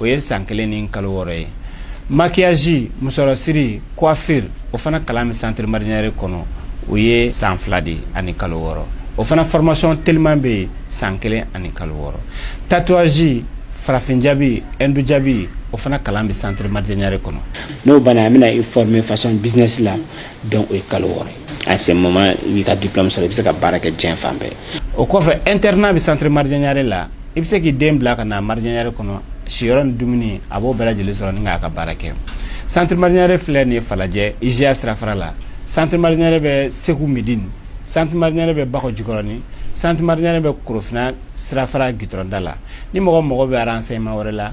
o ye san kelen ni kalo wɔɔrɔ ye maquillage musɔrɔsiri coiffure o fana kalan bɛ centre marjanyare kɔnɔ o ye san fila de ani kalo wɔɔrɔ o fana formation teliman bɛ yen san kelen ani kalo wɔɔrɔ tatouage farafin jabi hindu jabi o fana kalan bɛ centre marjanyare kɔnɔ n'o banna an bɛna i former façon business la donc o ye kalo wɔɔrɔ ye à ce moment i b'i ka diplôme sɔrɔ i bɛ se ka baara kɛ diɲɛ fan bɛɛ o kɔfɛ internat bɛ centre marjanyare la i bɛ se k'i den bila ka na marjanyare kɔnɔ siyɔrɔ ni dumuni a b'o bɛɛ lajɛlen sɔrɔ ni k'a ka baara kɛ centre marjanyare filɛ nin ye falajɛ iziya sirafara la centre marjanyare bɛ segu medini centre marjanyare bɛ bakɔ jikɔrɔni centre marjanyare bɛ korofina sirafara gitɔrɔnda la ni mɔgɔ mago bɛ renseignement wɛrɛ la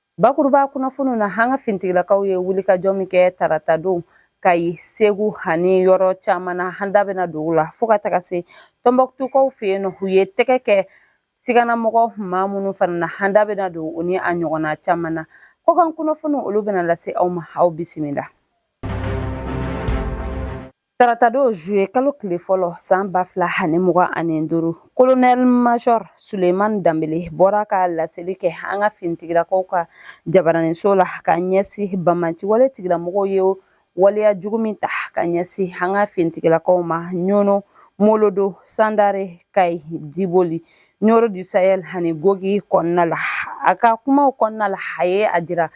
Bakuruba kunnafoniw na an ka fintigilakaw ye wulikajɔ min kɛ tarata don Kayi segu ani yɔrɔ caman na an da bɛna don u la fo ka taga se tɔnbɔkutukaw fɛ yen nɔ u ye tɛgɛ kɛ siganamɔgɔ maa minnu fana na an da bɛna don u ni a ɲɔgɔnna caman na kɔkan kunnafoniw olu bɛna lase aw ma aw bisimila Taratadon zuye kalo tile fɔlɔ san ba fila ani mugan ani duuru colonel major Suleyimani Danbele bɔra ka laseli kɛ an ka fintigilakaw ka jabaraninso la ka ɲɛsin bamanci wale tigilamɔgɔw ye waleya jugu min ta ka ɲɛsin an ka fintigilakaw ma Ɲɔnɔ Mɔlɔdɔ Sandare Kayi Diboli Ɲɔrɔ du Sahel ani Gogi kɔnɔna la a ka kumaw kɔnɔna la a ye a jira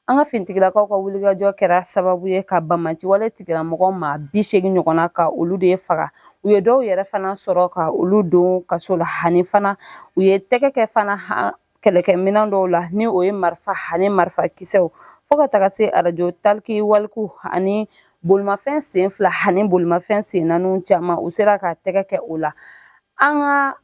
An ka finitigilakaw ka wulikajɔ kɛra sababu ye ka bamaci wale tigilamɔgɔ maa bi segin ɲɔgɔnna ka olu de faga u ye dɔw yɛrɛ fana sɔrɔ ka olu don kaso la ani fana u ye tɛgɛ kɛ fana kɛlɛkɛminɛn dɔw la ni o ye marifa ani marifa kisɛw fo ka taga se arajo talkie-walkie ani bolimafɛn sen fila ani bolimafɛn sen naaniw caman u sera ka tɛgɛ kɛ o la an ka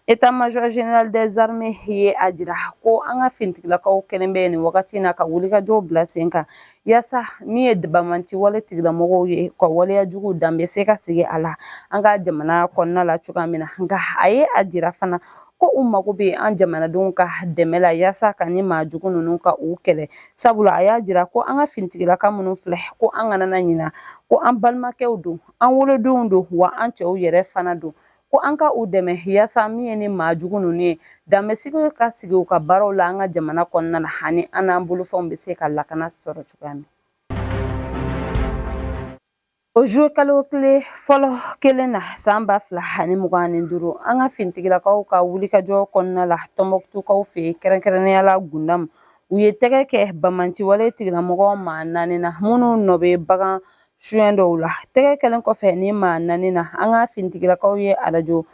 État-major général des armées ye a jira ko an ka fintigilakaw kɛlen bɛ nin wagati in na ka wulikajɔw bila sen kan yaasa min ye bamanci wale tigilamɔgɔw ye ka waleya jugu dan bɛ se ka sigi a la an ka jamana kɔnɔna la cogoya min na nka a ye a jira fana ko u mago bɛ an jamanadenw ka dɛmɛ la yaasa ka ni maa jugu ninnu ka u kɛlɛ sabula a y'a jira ko an ka fintigilaka minnu filɛ ko an kana ɲina ko an balimakɛw don an wolodenw don wa an cɛw yɛrɛ fana don ko an ka u dɛmɛ yaasa min ye ni maa jugu ninnu ye dan bɛ sigi ka sigi u ka baaraw la an ka jamana kɔnɔna na ani an n'an bolofɛnw bɛ se ka lakana sɔrɔ cogoya min o zuye kalo tile fɔlɔ kelen na san ba fila ani mugan ni duuru an ka finitigilakaw ka wulikajɔ kɔnɔna la tɔnbɔkutukaw fɛ yen kɛrɛnkɛrɛnnenya la gundamu u ye tɛgɛ kɛ bamanci wale tigilamɔgɔ maa naani na minnu nɔ bɛ bagan suɲɛ dɔw la tɛgɛ kɛlen kɔfɛ ni maa naani na an ka finitigilakaw ye arajo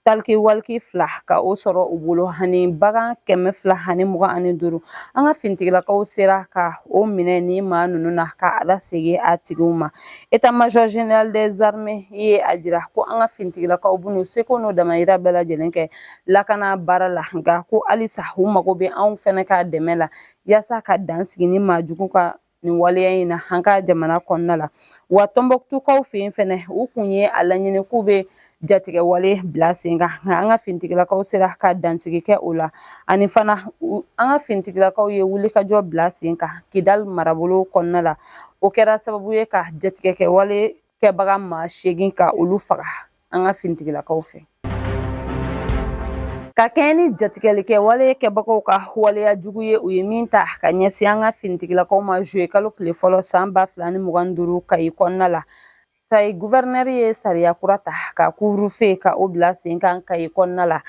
taliki waliki fila ka o sɔrɔ u bolo ani bagan kɛmɛ fila ani mugan ani duuru an ka finitigilakaw sera ka o minɛ ni maa ninnu na ka a lasegin a tigiw ma état-major général des armées ye a jira ko an ka finitigilakaw b'u seko n'u damayira bɛɛ lajɛlen kɛ lakana baara la nka ko halisa u mago bɛ anw fɛnɛ ka dɛmɛ la yaasa ka dan sigi ni maa jugu ka nin waleya in na an ka jamana kɔnɔna la wa tɔnbɔkutukaw fɛ yen fɛnɛ u kun ye a laɲini k'u bɛ jatigɛ wale bila sen kan nka an ka finitigilakaw sera ka dansigi kɛ o la ani fana an ka finitigilakaw ye wulikajɔ bila sen kan kidali marabolo kɔnɔna la o kɛra sababu ye ka jatigɛ kɛ wale kɛbaga maa seegin ka olu faga an ka finitigilakaw fɛ ka kɛɲɛ ni jatigɛli kɛ wale kɛbagaw ka waleya jugu ye u ye min ta ka ɲɛsin an ka finitigilakaw ma zuye kalo tile fɔlɔ san ba fila ni mugan duuru kayi kɔnɔna la kayi guvɛrinɛri ye sariya kura ta ka couvre-feu ka o bila sen kan kayi kɔnɔna la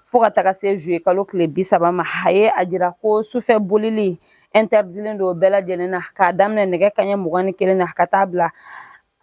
fo ka taga se zuye kalo tile bi saba ma a ye a jira ko sufɛ bolili ɛntɛridilen don bɛɛ lajɛlen na k'a daminɛ nɛgɛ kaɲɛ mugan ni kelen na ka taa bila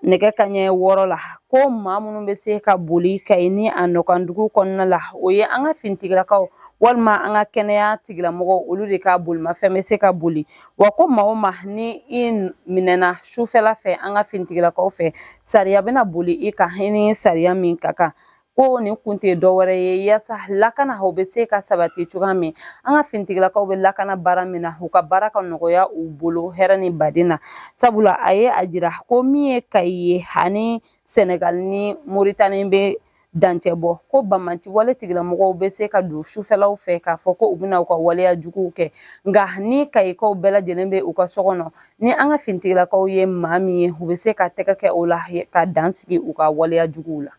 nɛgɛ kaɲɛ wɔɔrɔ la ko maa minnu bɛ se ka boli kayi ni a nɔkandugu kɔnɔna la o ye an ka finitigilakaw walima an ka kɛnɛya tigilamɔgɔw olu de ka bolimafɛn bɛ se ka boli wa ko maa o maa ni i minɛna sufɛla fɛ an ka finitigilakaw fɛ sariya bɛna boli i kan i ni sariya min ka kan ko nin kun tɛ dɔwɛrɛ ye yaasa lakana o bɛ se ka sabati cogoya min an ka finitigilakaw bɛ lakana baara min na u ka baara ka nɔgɔya u bolo hɛrɛ ni baden na sabula a ye a jira ko min ye kayi ye ani sɛnɛgal ni moritani bɛ dancɛ bɔ ko banbaanci wale tigilamɔgɔw bɛ se ka don sufɛlaw fɛ k'a fɔ ko u bɛna u ka waleya juguw kɛ nka ni kayikaw bɛɛ lajɛlen bɛ u ka so kɔnɔ ni an ka finitigilakaw ye maa min ye u bɛ se ka tɛgɛ kɛ o la ka dan sigi u ka waleya juguw la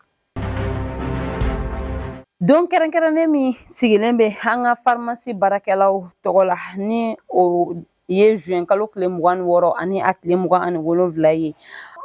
Don kɛrɛnkɛrɛnnen min sigilen bɛ an ka farimasi baarakɛlaw tɔgɔ la ni o ye zuwɛn kalo tile mugan wɔɔrɔ ani a tile mugan ani wolonwula ye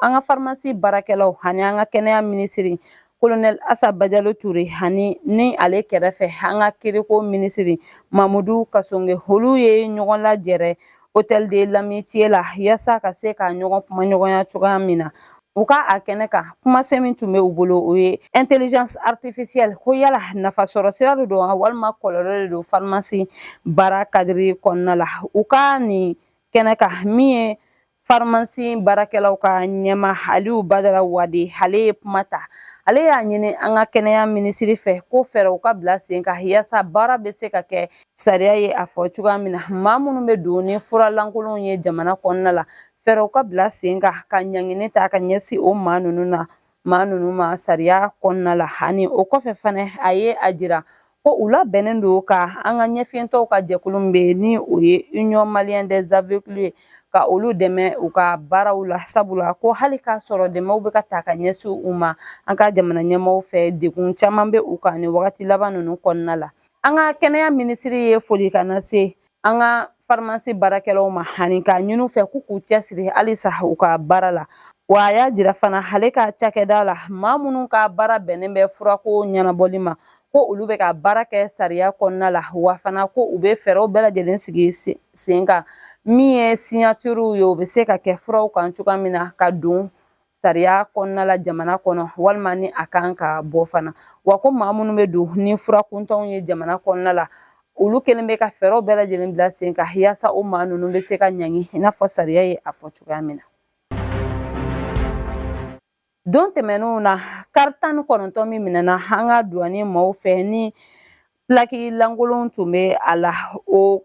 an ka farimasi baarakɛlaw ani an ka kɛnɛya minisiri kolonɛli asa bajalo ture ani ni ale kɛrɛfɛ an ka kiriko minisiri mamadu kasɔnge olu ye ɲɔgɔn lajɛrɛ hôtel de l'amitié la yasa ka se ka ɲɔgɔn kuma ɲɔgɔnya cogoya min na u ka a kɛnɛ kan kumasen min tun bɛ u bolo o ye intelligence artificielle ko yala nafasɔrɔ sira de don walima kɔlɔlɔ de don farimasi baara kadiri kɔnɔna la u ka nin kɛnɛ kan min ye farimasi baarakɛlaw ka ɲɛmaa aliyu badara wade ale ye kuma ta ale y'a ɲini an ka kɛnɛya minisiri fɛ ko fɛɛrɛw ka bila sen kan yasa baara bɛ se ka kɛ Sariya ye a fɔ cogoya min na maa minnu bɛ don ni fura lankolonw ye jamana kɔnɔna la fɛɛrɛw ka bila sen kan ka ɲangini ta ka ɲɛsin o maa ninnu na maa ninnu ma sariya kɔnɔna la ani o kɔfɛ fana a ye a jira ko u labɛnnen don ka an ka ɲɛfiyentɔw ka jɛkulu min bɛ yen ni o ye union malienne des aveugles ye ka olu dɛmɛ u ka baaraw la sabula ko hali k'a sɔrɔ dɛmɛw bɛ ka ta ka ɲɛsin u ma an ka jamana ɲɛmɔgɔw fɛ degun caman bɛ u kan nin wagati laban ninnu kɔnɔna la an ka kɛnɛya minisiri ye foli kan lase an ka farimasi baarakɛlaw ma ani k'a ɲini u fɛ k'u k'u cɛsiri halisa u ka baara la wa a y'a jira fana ale ka cakɛda la maa minnu ka baara bɛnnen bɛ furako ɲɛnabɔli ma ko olu bɛ ka baara kɛ sariya kɔnɔna la wa fana ko u bɛ fɛɛrɛw bɛɛ lajɛlen sigi sen kan min ye signature ye o bɛ se ka kɛ furaw kan cogoya min na ka don sariya kɔnɔna la jamana kɔnɔ walima ni a kan ka bɔ fana wa ko maa minnu bɛ don ni fura kuntanw ye jamana kɔnɔna la olu kɛlen bɛ ka fɛɛrɛw bɛɛ lajɛlen bila sen kan yaasa o maa ninnu bɛ se ka ɲangi i n'a fɔ sariya ye a fɔ cogoya min na don tɛmɛnenw na kari tan ni kɔnɔntɔn min minɛna an ka duwani maaw fɛ ni pilaki lankolon tun bɛ a la o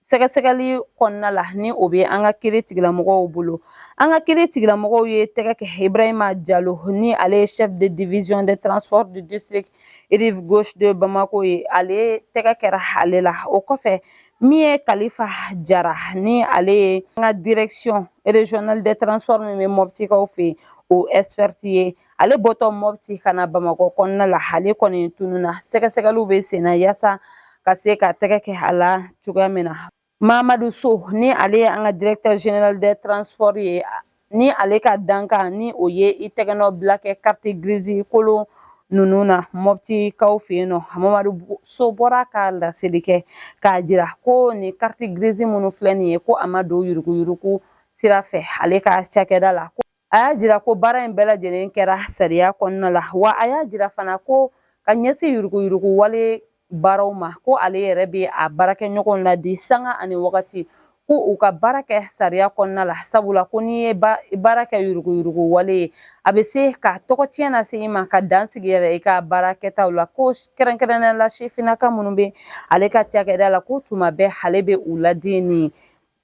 sɛgɛsɛgɛli kɔnɔna la ni o bɛ an ka kiri tigilamɔgɔw bolo an ka kiri tigilamɔgɔw ye tɛgɛ kɛ ibrahima jalo ni ale ye chef de division des transports du district rive gauche de bamako ye ale tɛgɛ kɛra ale la o kɔfɛ min ye kalifa jara ni ale ye an ka direction régionale des transports min bɛ mɔptikaw fɛ yen o expert ye ale bɔtɔ mɔpti ka na bamakɔ kɔnɔna la ale kɔni tununa sɛgɛsɛgɛliw bɛ senna yaasa ka se ka tɛgɛ kɛ a la cogoya min na mamadu so ni ale ye an ka directeur général des transports ye ni ale ka dankan ni o ye i tɛgɛnɔ bila kɛ carte grise kolon ninnu na mɔptikaw fɛ yen nɔ mamadu so bɔra ka laseli kɛ k'a jira ko nin carte grise minnu filɛ nin ye ko a ma don yuruguyurugu sira fɛ ale ka cakɛda la a y'a jira ko baara in bɛɛ lajɛlen kɛra sariya kɔnɔna la wa a y'a jira fana ko ka ɲɛsin yuruguyurugu wale baaraw ma ko ale yɛrɛ bɛ a baarakɛɲɔgɔnw ladi sanga ani wagati ko u ka baara kɛ sariya kɔnɔna la sabula ko n'i ye baara kɛ yuruguyurugu wale ye a bɛ se ka tɔgɔ tiɲɛ lase i ma ka dan sigi yɛrɛ i ka baara kɛtaw la ko kɛrɛnkɛrɛnnenya la sifinnaka minnu bɛ ale ka cakɛda la ko tuma bɛɛ ale bɛ u ladi nin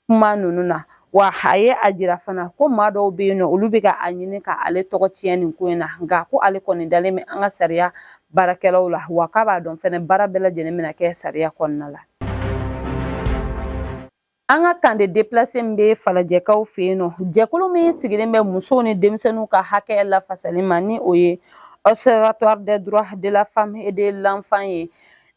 kuma ninnu na wa a ye a jira fana ko maa dɔw bɛ yen nɔ olu bɛ ka a ɲini ka ale tɔgɔ tiɲɛ nin ko in na nka ko ale kɔni dalen bɛ an ka sariya baarakɛlaw la wa k'a b'a dɔn fɛnɛ baara bɛɛ lajɛlen bɛna kɛ sariya kɔnɔna la an ka camp de déplacés min bɛ falajɛkaw fɛ yen nɔ jɛkulu min sigilen bɛ musow ni denmisɛnninw ka hakɛ lafasali ma ni o ye observatoire des droits de la femme et de l'enfant ye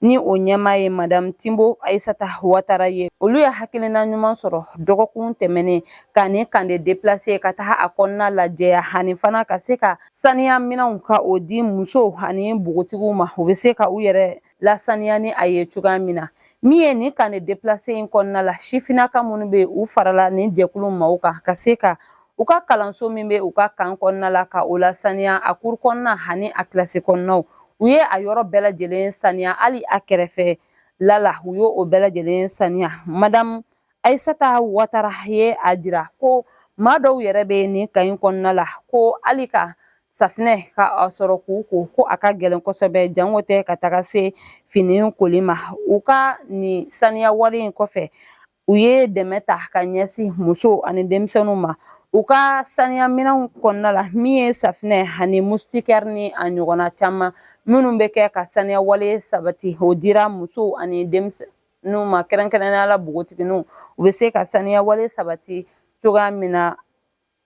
ni o ɲɛmaa ye madamu tinbo ayisata watara ye olu ye hakilina ɲuman sɔrɔ dɔgɔkun tɛmɛnen ka nin camp de déplacés ka taga a kɔnɔna lajɛya ani fana ka se ka saniya minɛnw ka o di musow ani npogotigiw ma u bɛ se ka u yɛrɛ lasaniya ni a ye cogoya min na min ye nin camp de déplacés in kɔnɔna la sifinaka minnu bɛ u farala nin jɛkulu maaw kan ka se ka u ka kalanso min bɛ u ka kan kɔnɔna la ka o lasaniya a kuru kɔnɔna ani a kilasi kɔnɔnaw u ye a yɔrɔ bɛɛ lajɛlen saniya hali a kɛrɛfɛla la u ye o bɛɛ lajɛlen saniya madamu ayisata watara ye a jira ko maa dɔw yɛrɛ bɛ nin kan in kɔnɔna la ko hali ka safinɛ ka a sɔrɔ k'u ko ko a ka gɛlɛn kosɛbɛ janko tɛ ka taga se fini koli ma u ka nin saniya wale in kɔfɛ u ye dɛmɛ ta ka ɲɛsin musow ani denmisɛnninw ma u ka saniya minɛnw kɔnɔna la min ye safinɛ ani mustikɛri ni a ɲɔgɔnna caman minnu bɛ kɛ ka saniya wale sabati o dira musow ani denmisɛnninw ma kɛrɛnkɛrɛnnenya la npogotigininw u bɛ se ka saniya wale sabati cogoya min na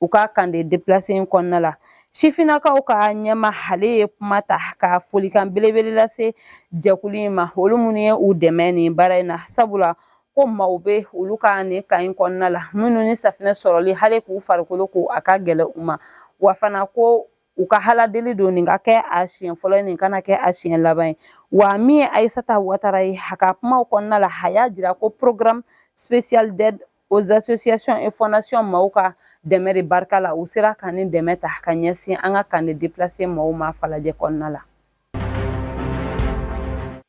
u ka camp de déplacés in kɔnɔna la sifinakaw ka ɲɛmaa ale ye kuma ta ka folikan belebele lase jɛkulu in ma olu minnu ye u dɛmɛ ni baara in na sabula ko maaw bɛ olu ka nin kan in kɔnɔna la minnu ni safinɛ sɔrɔli hali k'u farikolo ko a ka gɛlɛn u ma wa fana ko u ka aladeli don nin ka kɛ a siɲɛ fɔlɔ nin kana kɛ a siɲɛ laban ye wa min ye ayisata watara ye a ka kumaw kɔnɔna la a y'a jira ko programme spécial d'aide aux associations et fondations maaw ka dɛmɛ de barika la u sera ka nin dɛmɛ ta ka ɲɛsin an ka camp de déplacés maaw ma falajɛ kɔnɔna la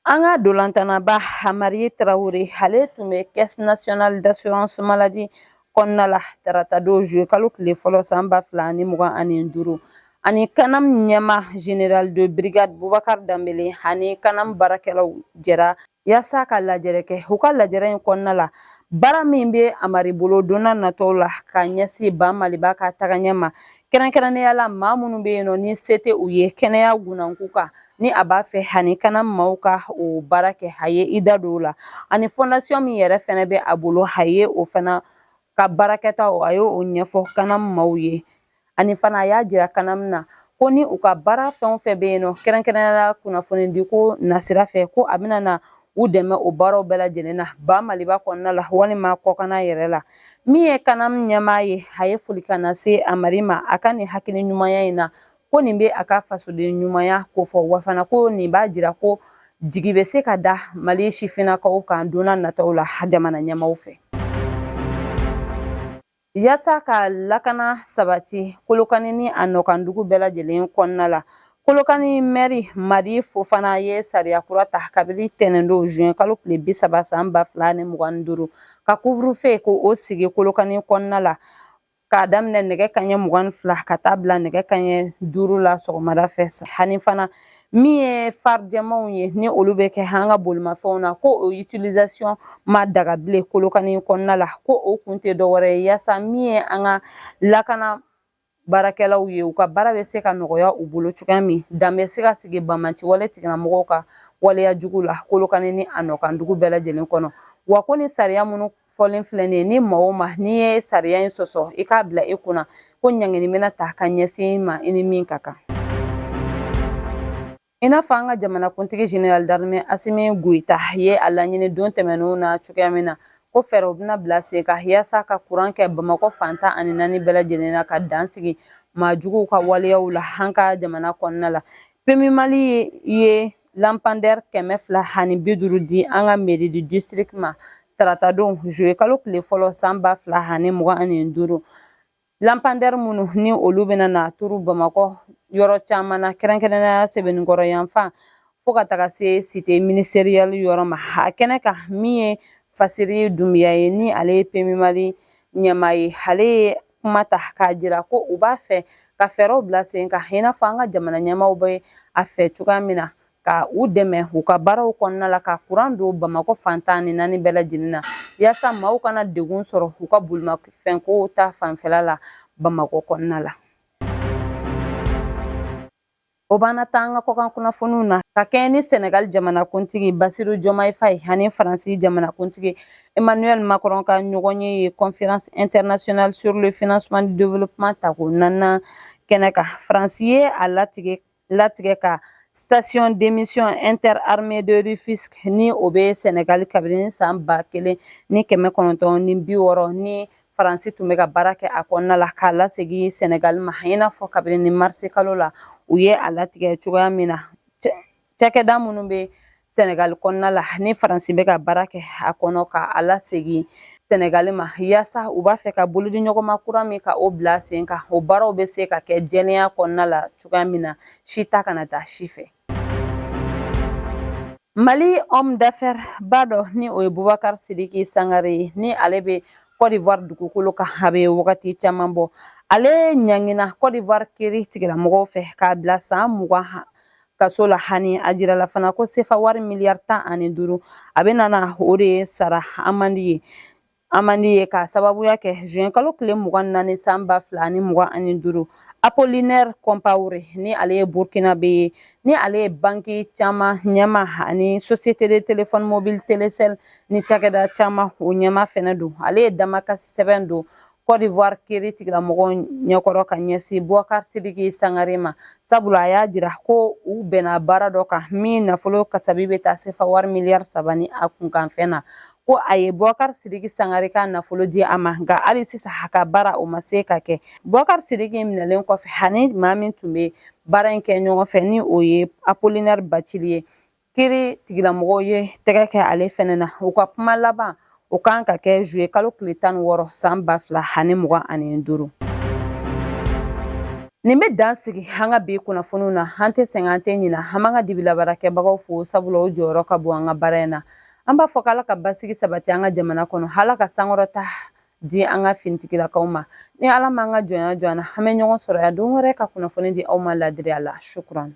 an ka ntolatannaba amari tarawele ale tun bɛ caisse nationale d'assurance maladie kɔnɔna la taratadon zuluye kalo tile fɔlɔ san ba fila ani mugan ani duuru ani kanam ɲɛmaa général de brigade bubakari danbele ani kanam baarakɛlaw jɛra yaasa ka lajɛrɛ kɛ u ka lajɛrɛ in kɔnɔna la baara min bɛ amari bolo donna natɔw la ka ɲɛsin ba maliba ka tagaɲɛ ma kɛrɛnkɛrɛnnenya la maa minnu bɛ yen nɔ ni se tɛ u ye kɛnɛya gunnanku kan ni a b'a fɛ ani kanam maaw ka o baara kɛ a ye i da don o la ani fɔndasiyɔn min yɛrɛ fɛnɛ bɛ a bolo a ye o fana ka baarakɛtaw a ye o ɲɛfɔ kanam maaw ye ani fana a y'a jira kanam na ko ni u ka baara fɛn o fɛn bɛ yen nɔ kɛrɛnkɛrɛnnenya kunnafonidiko nasira fɛ ko a bɛna na u dɛmɛ o baaraw bɛɛ lajɛlen na ba maliba kɔnɔna la walima kɔkana yɛrɛ la min ye kanam ɲɛmaa ye a ye folikan lase amari ma a ka nin hakili ɲumanya in na ko nin bɛ a ka fasoden ɲumanya kofɔ wa fana ko nin b'a jira ko jigi bɛ se ka da mali sifinnakaw kan donna nataw la jamana ɲɛmaaw fɛ yaasa ka lakana sabati kolokani ni a nɔkandugu bɛɛ lajɛlen kɔnɔna la kolokani mɛri madi fofana ye sariya kura ta kabini tɛnɛndon juin kalo tile bi saba san ba fila ni mugan ni duuru ka couvre-feu ko o sigi kolokani kɔnɔna la k'a daminɛ nɛgɛ kaɲɛ mugan ni fila ka taa bila nɛgɛ kaɲɛ duuru la sɔgɔmada fɛ ani fana min ye phare jɛmanw ye ni olu bɛ kɛ an ka bolimafɛnw na ko o utilisation ma daga bilen kolokani kɔnɔna la ko o kun tɛ dɔwɛrɛ ye yaasa min ye an ka lakana baarakɛlaw ye u ka baara bɛ se ka nɔgɔya u bolo cogoya min dan bɛ se ka sigi banbaanci wale tigilamɔgɔw ka waleya jugu la kolokani ni a nɔkandugu bɛɛ lajɛlen kɔnɔ wa ko ni sariya minnu fɔlen filɛ nin ye ni maa o maa n'i ye sariya in sɔsɔ i k'a bila i kunna ko ɲangini bɛna ta ka ɲɛsin i ma i ni min ka kan i n'a fɔ an ka jamanakuntigi général d'armée asimi goyita ye a laɲini don tɛmɛnenw na cogoya min na ko fɛɛrɛw bɛna bila sen kan yaasa ka kuran kɛ bamakɔ fan tan ani naani bɛɛ lajɛlen na ka dan sigi maajuguw ka waleyaw la an ka jamana kɔnɔna la PMU mali ye lampandɛri kɛmɛ fila ani bi duuru di an ka mairie du district ma taratadon juillet kalo tile fɔlɔ san ba fila ani mugan ani duuru lampandɛri minnu ni olu bɛna na turu bamakɔ yɔrɔ caman na kɛrɛnkɛrɛnnenya sebenikɔrɔ yanfan fo ka taga se cité ministérielle yɔrɔ ma a kɛnɛ kan min ye fasiri dunbiya ye ni ale ye PMU mali ɲɛmaa ye ale ye kuma ta k'a jira ko u b'a fɛ ka fɛɛrɛw bila sen kan i n'a fɔ an ka jamana ɲɛmaaw bɛ a fɛ cogoya min na ka u dɛmɛ u ka baaraw kɔnɔna la ka kuran don bamakɔ fan tan ni naani bɛɛ lajɛlen na yaasa maaw kana degun sɔrɔ u ka bolimafɛnko ta fanfɛla la bamakɔ kɔnɔna la O b'an ta an ka kɔkan kunnafoniw na ka kɛɲɛ ni Senegal jamanakuntigi Basiru Jɔmayi Fayi ani Faransi jamanakuntigi Emmanuel Macron ka ɲɔgɔnye ye conférence internationale sur le financement du développement tako naaninan kɛnɛ kan. Faransi ye a latigɛ ka station d'émission interarmées de Rufisque ni o bɛ Senegal kabini san ba kelen ni kɛmɛ kɔnɔntɔn ni bi wɔɔrɔ ni faransi tun bɛ ka baara kɛ a kɔnɔna la k'a lasegin sɛnɛgali ma i n'a fɔ kabini ni marisi kalo la u ye a latigɛ cogoya min na cakɛda minnu bɛ sɛnɛgali kɔnɔna la ni faransi bɛ ka baara kɛ a kɔnɔ ka a lasegin sɛnɛgali ma yaasa u b'a fɛ ka bolodiɲɔgɔnma kura min ka o bila sen kan o baaraw bɛ se ka kɛ jɛlenya kɔnɔna la cogoya min na si ta kana taa si fɛ Mali homme d'affaires ba dɔ ni o ye Boubacar Sidiki Sangare ye ni ale bɛ Côte d'Ivoire dugukolo kan a bɛ wagati caman bɔ ale ɲangina Côte d'Ivoire kiri tigilamɔgɔw fɛ k'a bila san mugan kaso la ani a jirala fana ko sefa wari miliyari tan ani duuru a bɛna na o de sara amandi ye Amandi ye k'a sababuya kɛ zuwɛn kalo tile mugan ni naani san ba fila ni mugan ani duuru Apollinaire Compaoré ni ale ye Burkinabè ye ni ale ye banki caman ɲɛma ani société de téléphone mobile Telecel ni cakɛda caman o ɲɛma fɛnɛ don ale ye damakasi sɛbɛn don Côte d'Ivoire kiri tigilamɔgɔw ɲɛkɔrɔ ka ɲɛsin Boubacar Sidiki Sangare ma sabula a y'a jira ko u bɛnna baara dɔ kan min nafolo kasabi bɛ taa sefa wari miliyari saba ni a kunkanfɛn na ko a ye Boubacar Sidiki Sangare ka nafolo di a ma nka hali sisan a ka baara o ma se ka kɛ Boubacar Sidiki minɛlen kɔfɛ ani maa min tun bɛ baara in kɛ ɲɔgɔn fɛ ni o ye Apollinaire Bathily ye kiri tigilamɔgɔw ye tɛgɛ kɛ ale fɛnɛ na u ka kuma laban o kan ka kɛ zuye kalo tile tan ni wɔɔrɔ san ba fila ani mugan ani duuru nin bɛ dan sigi an ka bi kunnafoniw na an tɛ sɛgɛn an tɛ ɲina an b'an ka dibilabaarakɛbagaw fo sabula o jɔyɔrɔ ka bon an ka baara in na an b'a fɔ k'ala ka basigi sabati an ka jamana kɔnɔ ala ka sankɔrɔta di an ka finitigilakaw ma ni ala m'an ka jɔnya jɔ an na an bɛ ɲɔgɔn sɔrɔ yan don wɛrɛ ka kunnafoni di aw ma ladiriya la sukuran